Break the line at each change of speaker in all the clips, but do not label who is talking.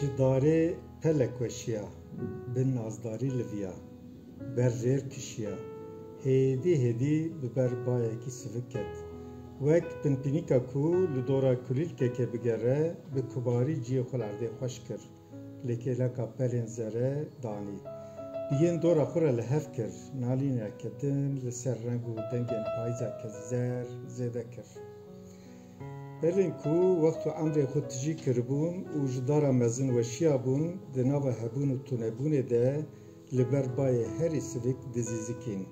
Ji darê pelek weşiya. Bi nazdarî liviya. Ber jêr kişiya. Hêdî hêdî bi ber bayekî sivik ket. Wek pinpînîka ku li dora kulîlkekê bigere, bi kibarî ciyê xwe li erdê xweş kir. Li kêleka pelên zere danî. Biyên dora xwe re li hev kir. Nalîna ketin li ser reng û dengên payîza ke zer zêde kir. Herîn ku wext û emrên xwe tijî kiribûn û ji dara mezin weşiyabûn, di nava hebûn û tunebûnê de li ber bayê herî sivik dizîzikîn.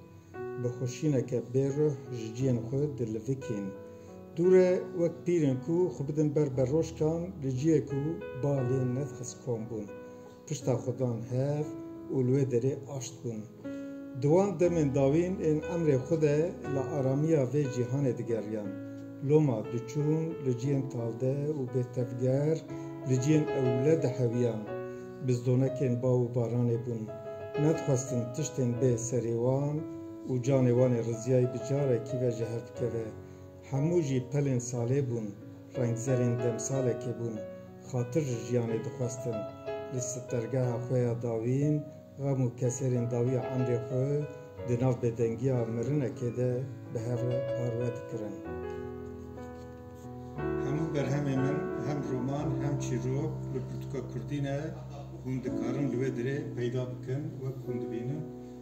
Bi xweşîneke bê ruh ji ciyên xwe dilivikîn. Dûr e wek pîr in ku xwe bidin ber beroşkan li ciyê ku ba lê nedixist kom bûn. Pişta xwe dan hev û li wê derê aşt bûn. Di wan demên dawîn ên emrê xwe de li aramiya vê cîhanê digeriyan. Loma diçûn li ciyên tavde û bêtevger, li ciyên ewle dihewiyan. Bizdonekên baw û baranê bûn. Nedixwestin tiştên bê serê wan û canê wan ê riziyayî bi carekî ve ji hev bikeve. Hemû jî pelên salê bûn, rengzerên demsalekê bûn, xatir ji jiyanê dixwestin. Li sitergeha xwe ya dawîn, xem û keserên dawiya emrê xwe di nav bêdengiya mirinekê de bi hev re parve dikirin. Hemû berhemên min hem roman hem çîrok li pirtûka kurdî ne, hûn dikarin li wê dirê peyda bikin wek hûn dibînin.